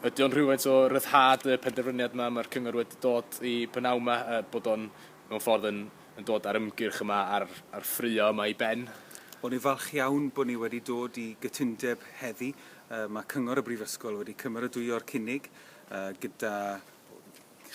Ydy o'n rhywfaint o ryddhad y penderfyniad yma mae'r cyngor wedi dod i b'nawn yma, bod o'n mewn ffordd yn yn dod â'r ymgyrch yma a'r a'r ffraeo yma i ben? Wel ni'n falch iawn bod ni wedi dod i gytundeb heddi. Yy mae Cyngor y Brifysgol wedi cymeradwyo'r cynnig yy gyda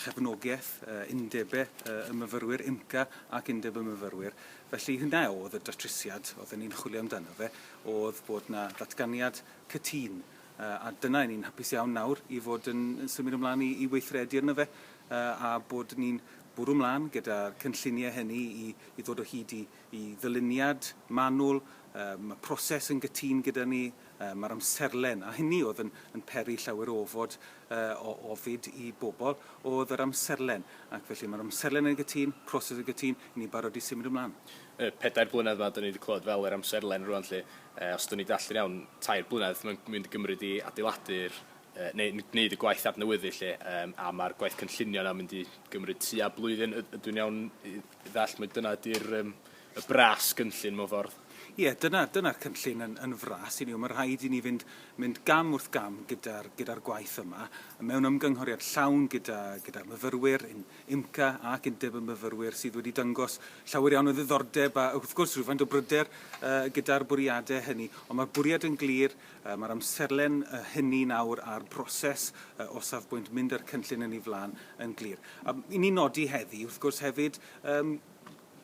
chefnogaeth yy undebe yy y myfyrwyr, UMCA ac Undeb y Myfyrwyr. Felly hynna o'dd y datrysiad odden ni'n chwilio amdano fe, o'dd bod 'na ddatganiad cytun A dyna, ni'n hapus iawn nawr i fod yn symud ymlaen i i weithredu arno fe, a bod ni'n bwrw mlaen gyda'r cynlluniau hynny i i ddod o hyd i i ddyluniad manwl. Yy ma' proses yn gytûn gyda ni, yy ma'r amserlen, a hynny o'dd yn yn peri llawer o ofod, yy o ofid i bobl, o'dd yr amserlen. Ac felly ma'r amserlen yn gytûn, proses yn gytûn, i ni barod i symud ymlaen. Y pedair blynedd 'ma 'dyn ni 'di clywed fel yr amserlen rŵan 'lly, Yy, os dwn i'n dallu'n iawn, tair blynedd mae'n mynd i gymryd i adeiladu'r yy neu n- gwneud y gwaith adnewyddu 'lly yym a ma'r gwaith cynllunio 'na'n mynd i gymryd tua blwyddyn y- ydw i'n iawn i i ddall' mai dyna ydi'r yym y bras gynllun mewn ffordd? Ie, dyna dyna'r cynllun yn yn fras i ni. Wel ma' rhaid i ni fynd mynd gam wrth gam gyda'r gyda'r gwaith yma, mewn ymgynghoriad llawn gyda gyda'r myfyrwyr, ein IMCA ac Undeb y Myfyrwyr sydd wedi dangos llawer iawn o ddiddordeb a wrth gwrs rhywfaint o bryder gyda'r bwriadau hynny. Ond mae'r bwriad yn glir, mae'r amserlen hynny nawr a'r broses o safbwynt mynd â'r cynllun yn ei flaen yn glir. A i ni nodi heddi wrth gwrs hefyd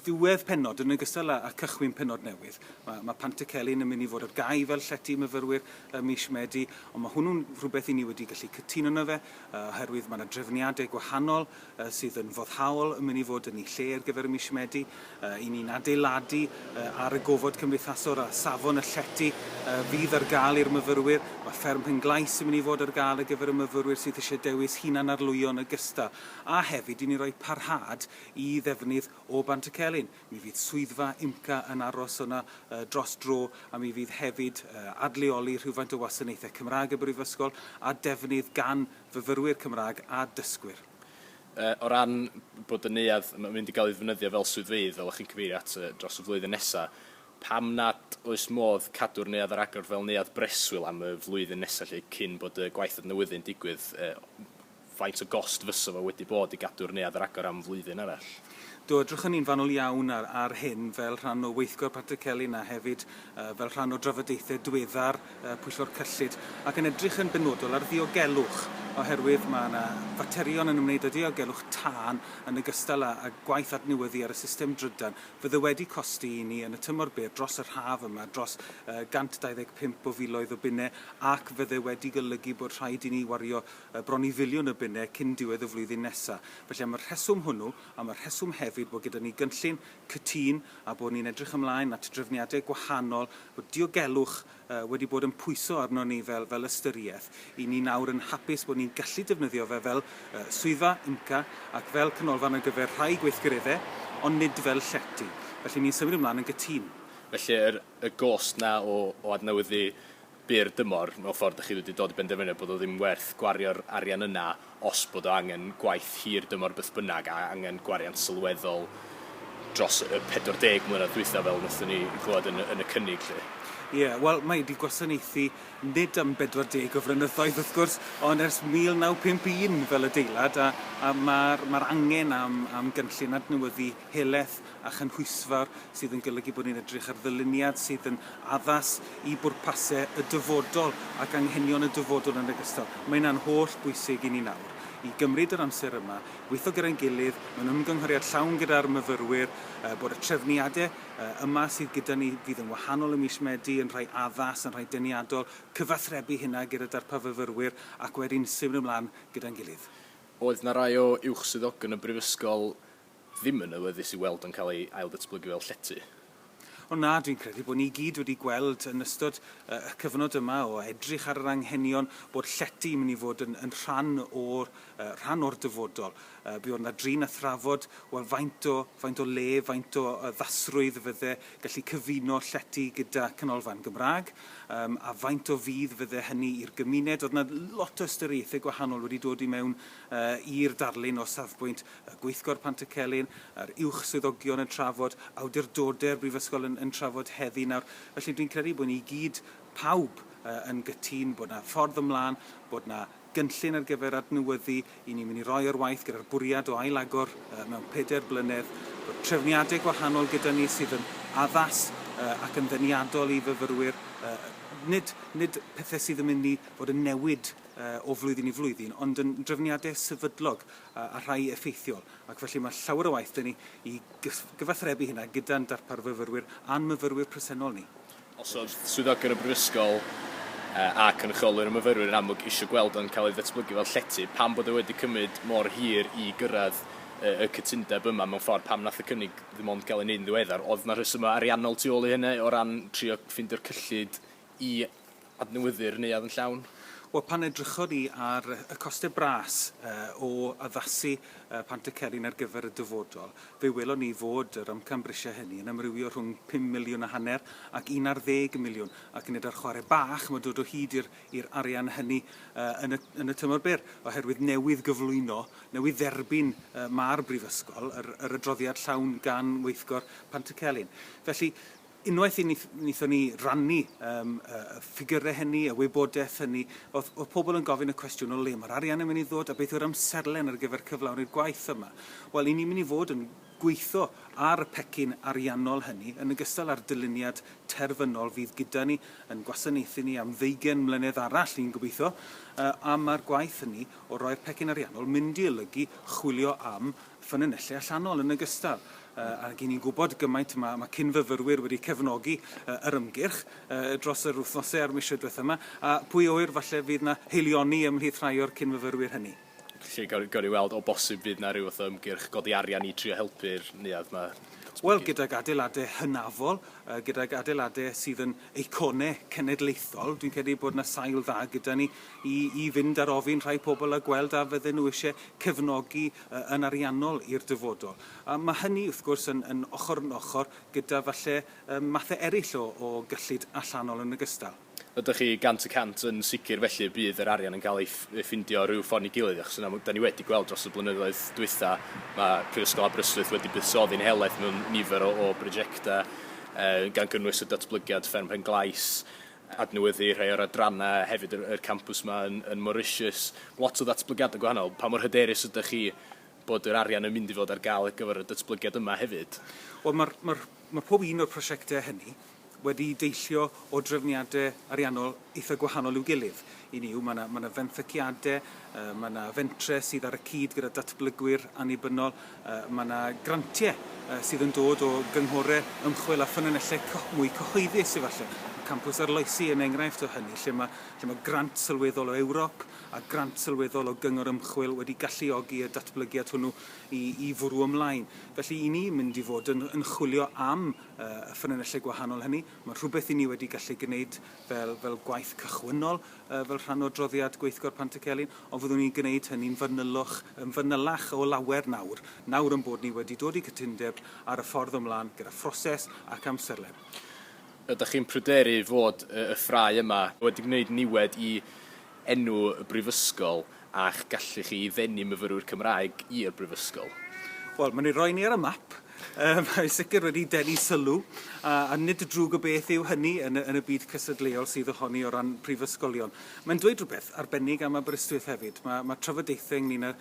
ddiwedd pennod, yn ogystal â â cychwyn pennod newydd. Mae ma' Pant y Celyn yn mynd i fod ar gau fel llety i myfyrwyr ym mis Medi, ond mae hwnnw'n rhywbeth i ni wedi gallu cytuno yno fe, yy oherwydd mae 'na drefniadau gwahanol yy sydd yn foddhaol yn mynd i fod yn eu lle ar gyfer y mis Medi. Yy 'yn ni'n adeiladu yy ar y gofod cymdeithasol a safon y llety yy fydd ar gael i'r myfyrwyr. Mae Fferm Penglais yn mynd i fod ar gael ar gyfer y myfyrwyr sydd eisiau dewis hunan-arlwyo yn ogystal, a hefyd i ni roi parhad i ddefnydd o Bantycelyn. Mi fydd swyddfa UMCA yn aros yno dros dro a mi fydd hefyd adleoli rhywfaint o wasanaethau Cymraeg y Brifysgol a defnydd gan fyfyrwyr Cymraeg a dysgwyr. O ran bod y neuadd yn mynd i gael ei ddefnyddio fel swyddfeydd, fel o'ch chi'n cyfeirio at, dros y flwyddyn nesaf, pam nad oes modd cadw'r neuadd ar agor fel neuadd breswyl am y flwyddyn nesaf 'lly cyn bod y gwaith adnewyddu'n digwydd? Faint o gost fysa fo wedi bod i gadw'r neuadd ar agor am flwyddyn arall? Do, edrychon ni'n fanwl iawn ar ar hyn fel rhan o weithgor Patrick Celyn a hefyd yy fel rhan o drafodaethau diweddar yy Pwyllgor Cyllid ac yn edrych yn benodol ar ddiogelwch oherwydd ma' 'na faterion yn ymwneud â diogelwch tân yn ogystal â â gwaith adnewyddu ar y system drydan fydd e wedi costi i ni yn y tymor byr dros yr haf yma dros yy 125 o filoedd o bunnau ac fydd e wedi golygu bod rhaid i ni wario bron i filiwn o bunnau cyn diwedd y flwyddyn nesaf. Felly am y rheswm hwnnw, am y rheswm hefyd bod gyda ni gynllun cytûn a bod ni'n edrych ymlaen at drefniadau gwahanol, bod diogelwch wedi bod yn pwyso arnon ni fel fel ystyriaeth, 'y ni nawr yn hapus bod ni'n gallu defnyddio fe fel swyddfa IMCA ac fel canolfan ar gyfer rhai gweithgareddau, ond nid fel llety. Felly ni'n symud ymlaen yn gytûn. Felly yr y gost 'na o o adnewyddu byr dymor, mewn ffordd dych chi wedi dod i benderfyniad bod o ddim werth gwario'r arian yna os bod o angen gwaith hir dymor beth bynnag a angen gwariant sylweddol dros y 40 mlynedd dwytha fel wnaethon ni glywed yn, yn y cynnig lly. Ie, yeah, wel, mae wedi gwasanaethu nid am 40 o flynyddoedd wrth gwrs, ond ers 1951 fel adeilad, a, a mae'r ma angen am, am gynllun adnewyddu helaeth a chynhwysfawr sydd yn golygu bod ni'n edrych ar ddyluniad sydd yn addas i bwrpasau y dyfodol ac anghenion y dyfodol yn ogystal. Mae hynna'n holl bwysig i ni nawr, i gymryd yr amser yma, gweithio gyda'n gilydd mewn ymgynghoriad llawn gyda'r myfyrwyr, bod y trefniadau yma sydd gyda ni fydd yn wahanol ym mis Medi yn rhai addas, yn rhai deniadol, cyfathrebu hynna gyda darpar fyfyrwyr ac wedyn symud ymlaen gyda'n gilydd. Oedd 'na rai o uwch swyddogion y Brifysgol ddim yn awyddus i weld yn cael ei ailddatblygu fel llety. O na, dwi'n credu bod ni i gyd wedi gweld yn ystod y cyfnod yma o edrych ar yr anghenion bod llety yn mynd i fod yn, yn rhan o'r, uh, rhan o'r dyfodol. Uh, buodd yna drin a thrafod, wel, faint o, faint o le, faint o uh, ddasrwydd fydde gallu cyfuno llety gyda canolfan Gymraeg, um, a faint o fydd fydde hynny i'r gymuned. Oedd yna lot o ystyriaethau gwahanol wedi dod i mewn uh, i'r darlun o safbwynt y Gweithgor Pantycelyn a'r Uwch Swyddogion yn trafod, awdurdode'r Brifysgol yn yn trafod heddi nawr. Felly dwi'n credu bod ni i gyd, pawb, yn gytun bod 'na ffordd ymlaen, bod 'na gynllun ar gyfer adnewyddu, 'yn ni'n mynd i roi o'r waith gyda'r bwriad o ail-agor mewn pedair blynedd, bod trefniadau gwahanol gyda ni sydd yn addas ac yn ddeniadol i fyfyrwyr, nid nid pethau sydd yn mynd i fod yn newid o flwyddyn i flwyddyn, ond yn drefniadau sefydlog a rhai effeithiol, ac felly mae llawer o waith 'da ni i gyfathrebu hynna gyda'n darpar fyfyrwyr a'n myfyrwyr presennol ni. Os oedd swyddogion y Brifysgol a cynrychiolwyr y myfyrwyr yn amlwg eisiau gweld o'n cael ei ddatblygu fel llety, pam bod e wedi cymryd mor hir i gyrraedd y cytundeb yma mewn ffordd, pam nath y cynnig ddim ond gael ei wneud yn ddiweddar? Oedd 'na rhesymau ariannol tu ôl i hynny o ran trio ffeindio'r cyllid i adnewyddu'r neuadd yn llawn? Wel, pan edrychon ni ar y costau bras o addasu Pant y Cerin ar gyfer y dyfodol, fe welon ni fod yr amcan-brisiau hynny yn amrywio rhwng pum miliwn a hanner ac un ar ddeg miliwn, ac nid ar chwarae bach mae dod o hyd i'r arian hynny yn y tymor byr, oherwydd newydd gyflwyno, newydd dderbyn ma'r Brifysgol, yr adroddiad llawn gan weithgor Pant y Celyn. Felly, Unwaith i ni wnaethon ni rannu yym y y ffigyrau hynny, y wybodaeth hynny, oedd oedd pobl yn gofyn y cwestiwn o le mae'r arian yn mynd i ddod a beth yw'r amserlen ar gyfer cyflawni'r gwaith yma. Wel, i ni'n mynd i fod yn gweithio ar y pecyn ariannol hynny, yn ogystal â'r dyluniad terfynol fydd gyda ni, yn gwasanaethu ni am ddeugain mlynedd arall, ni'n gobeithio, yy a ma'r gwaith hynny o roi'r pecyn ariannol mynd i olygu chwilio am ffynonellau allanol yn ogystal ag i ni'n gwybod gymaint mae mae cyn-fyfyrwyr wedi cefnogi yr ymgyrch dros yr wythnosau a'r misoedd diwethaf yma, a pwy a ŵyr falle fydd 'na haelioni ymhlith rhai o'r cyn-fyfyrwyr hynny. Felly gawn gawn ni weld o bosib fydd 'na ryw fath o ymgyrch godi arian i drio helpu'r neuadd 'ma datblygu? Wel gydag adeiladau hynafol, gydag adeiladau sydd yn eiconau cenedlaethol, dwi'n credu bod 'na sail dda gyda ni i i fynd ar ofyn rhai pobl a gweld a fydden nhw eisiau cefnogi yn ariannol i'r dyfodol. A mae hynny, wrth gwrs, yn yn ochr yn ochr gyda falle yym mathau eraill o o gyllid allanol yn ogystal. Ydych chi gant y cant yn sicr felly y bydd yr arian yn cael ei ei ffindio rhyw ffordd neu gilydd, achos yna dan ni wedi gweld dros y blynyddoedd dwytha, mae Prifysgol Aberystwyth wedi buddsoddi'n helaeth mewn nifer o o brojectau yy gan gynnwys y datblygiad Fferm Pen-glais, adnewyddu rhai o'r adrannau hefyd yr yr campws 'ma yn yn Mauritius. Lot o ddatblygiadau gwahanol. Pa mor hyderus ydych chi bod yr arian yn mynd i fod ar gael ar gyfer y datblygiad yma hefyd? Wel ma'r ma'r ma' pob un o'r prosiectau hynny wedi deillio o drefniadau ariannol eitha' gwahanol i'w gilydd. Hynny yw, mae 'na, mae 'na fenthyciadau, yy, mae 'na fentrau sydd ar y cyd gyda datblygwyr annibynnol, yy, mae 'na grantiau yy, sydd yn dod o gynghorau ymchwil a ffynonellau co mwy cyhoeddus efallai. Mae campws Arloesi yn enghraifft o hynny, lle mae, lle mae grant sylweddol o Ewrop a grant sylweddol o gyngor ymchwil wedi galluogi y datblygiad hwnnw i, i fwrw ymlaen. Felly, i ni mynd i fod yn, yn chwilio am yy, y ffynonellau gwahanol hynny, mae'n rhywbeth i ni wedi gallu gwneud fel, fel gwaith cychwynnol, uh, fel rhan o adroddiad gweithgor Pantycelyn, ond fyddwn ni'n gwneud hynny'n fanylwch, yn fanylach o lawer nawr, nawr yn bod ni wedi dod i gytundeb ar y ffordd ymlaen gyda phroses ac amserlen. Ydych chi'n pryderu fod y ffrae yma wedi gwneud niwed i enw y brifysgol a'ch gallu chi i ddenu myfyrwyr Cymraeg i'r brifysgol? Wel, mae'n ei roi ni ar y map. Yym, mae'n sicr wedi denu sylw, a, a nid drwg o beth yw hynny yn y, yn y byd cystadleuol sydd ohoni o ran prifysgolion. Mae'n dweud rhywbeth arbennig am Aberystwyth hefyd. Mae, mae trafodaethau ynglyn â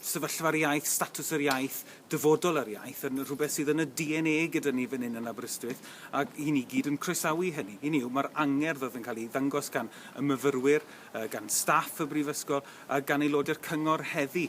sefyllfa'r iaith, statws yr iaith, dyfodol yr iaith, yn rhywbeth sydd yn y DNA gyda ni fan hyn yn Aberystwyth, ac i ni gyd yn croesawu hynny. Hynny yw, mae'r angerdd oedd yn cael ei ddangos gan y myfyrwyr, gan staff y Brifysgol a gan aelodau'r Cyngor heddi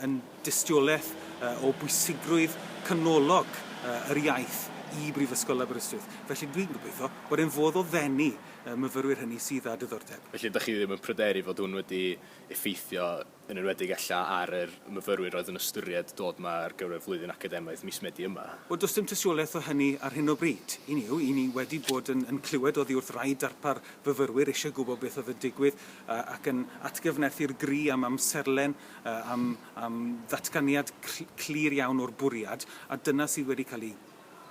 yn dystiolaeth o bwysigrwydd canolog yr iaith i Brifysgol Aberystwyth. Felly, dwi'n gobeithio bod e'n fodd o ddenu y myfyrwyr hynny sydd â diddordeb. Felly, dach chi ddim yn pryderu fod hwn wedi effeithio yn enwedig ella ar yr myfyrwyr oedd yn ystyried dod 'ma ar gyfer flwyddyn academaidd mis Medi yma. Wel, does dim tystiolaeth o hynny ar hyn o bryd. Hynny yw, 'y ni wedi bod yn yn clywed oddi wrth rai darpar fyfyrwyr eisiau gwybod beth oedd yn digwydd ac yn atgyfnerthu'r gri am amserlen, am am ddatganiad clir iawn o'r bwriad, a dyna sydd wedi cael ei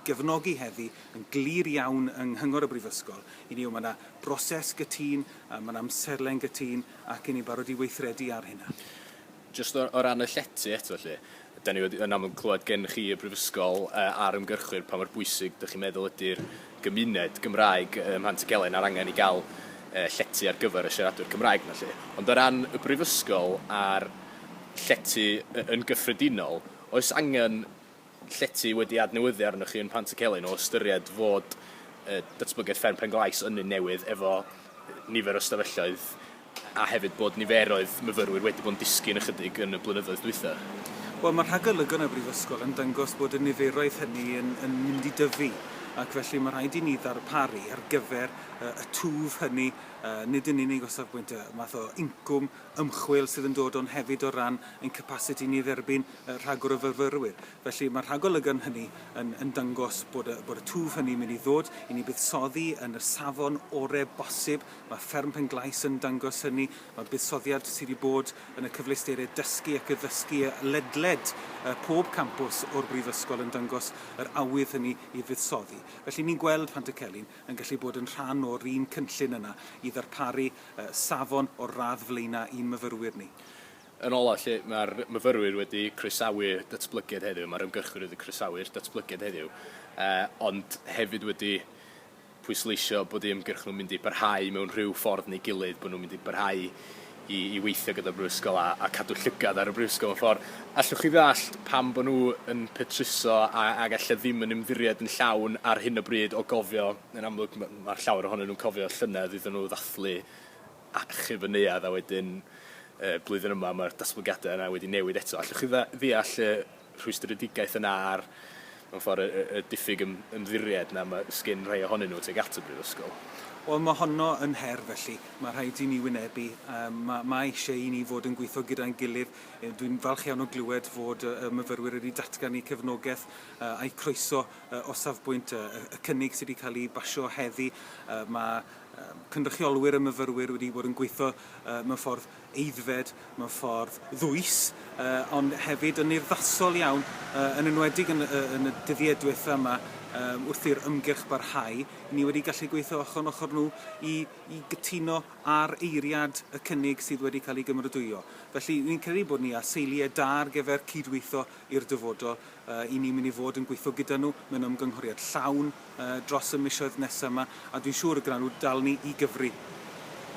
gefnogi heddi yn glir iawn yng Nghyngor y Brifysgol, i ni yw mae 'na broses gytun, yy mae'n amserlen gytun, ac i ni'n barod i weithredu ar hynna. Jyst o o ran y llety eto felly, 'dan ni wedi yn amlwg clywed gen chi y Brifysgol yy a'r ymgyrchwyr pa mor bwysig dych chi'n meddwl ydi'r gymuned Gymraeg ym Mhant-y-gelyn a'r angen i ga'l yy llety ar gyfer y siaradwyr Cymraeg 'na lly. Ond o ran y Brifysgol a'r llety y- yn gyffredinol, oes angen llety wedi adnewyddu arnoch chi yn Pantycelyn o ystyried fod yy datblygiad fferm Penglais yn un newydd efo nifer o stafelloedd a hefyd bod niferoedd myfyrwyr wedi bod yn disgyn ychydig yn y blynyddoedd dwytha? Wel, mae rhagolygon yn y Brifysgol yn dangos bod y niferoedd hynny yn yn mynd i dyfu ac felly mae rhaid i ni ddarparu ar gyfer yy y twf hynny yy nid yn unig o safbwynt y math o incwm ymchwil sydd yn dod o'n hefyd o ran ein capasiti ni i dderbyn rhagor o fyfyrwyr. Felly mae'r rhagolygon hynny yn yn dangos bod y bod y twf hynny'n mynd i ddod i ni buddsoddi yn y safon orau bosib. Mae Fferm Penglais yn dangos hynny. Mae buddsoddiad sydd wedi bod yn y cyfleusterau dysgu ac addysgu ledled pob campws o'r Brifysgol yn dangos yr awydd hynny i fuddsoddi. Felly ni'n gweld Pantycelyn. yn gallu bod yn rhan o'r un cynllun yna i ddarparu safon o'r radd flaenau i'n myfyrwyr ni. Yn olaf, felly, mae'r myfyrwyr wedi croesawu datblygiad heddiw, mae'r ymgyrchwyr wedi croesawu'r datblygiad heddiw, ond hefyd wedi pwysleisio bod eu hymgyrch nhw'n mynd i barhau mewn rhyw ffordd neu gilydd, bod nhw'n mynd i barhau i i weithio gyda'r Brifysgol a a cadw llygad ar y Brifysgol mewn ffor'. Allwch chi ddallt pam bo' nhw yn petruso a ag elle ddim yn ymddiried yn llawn ar hyn o bryd o gofio, yn amlwg ma' ma' llawer ohonyn nhw'n cofio llynedd iddyn nhw ddathlu achub y neuadd a wedyn yy blwyddyn yma ma'r datblygiade yna wedi newid eto. Allwch chi dda- ddeall y rhwystredigaeth yna a'r, mewn ffordd, y, y, y diffyg ym, ymddiried 'na ma' sgin rhai ohonyn nhw tuag at y Brifysgol. Wel, mae honno yn her, felly, mae rhaid i ni wynebu. Yym, ma', ma' eisiau i ni fod yn gweithio gyda'n gilydd. Yy, dwi'n falch iawn o glywed fod y, y myfyrwyr wedi datgan eu cefnogaeth yy, a'u croeso yy, o safbwynt y, y, y cynnig sydd wedi cael ei basio heddi. Yy, ma' yy, cynrychiolwyr y myfyrwyr wedi bod yn gweithio yy, mewn ffordd, aeddfed mewn ffordd ddwys ond hefyd yn urddasol iawn, yn enwedig yn y dyddiau diwetha' yma wrth i'r ymgyrch barhau, ni wedi gallu gweithio ochr yn ochr nhw i gytuno ar eiriad y cynnig sydd wedi cael ei gymeradwyo. Felly, rwy'n credu bod ni â seiliau da ar gyfer cydweithio i'r dyfodol. Ry'n ni'n mynd i fod yn gweithio gyda nhw mewn ymgynghoriad llawn dros y misoedd nesaf yma a dwi'n siŵr y gwnawn nhw dal ni i gyfri.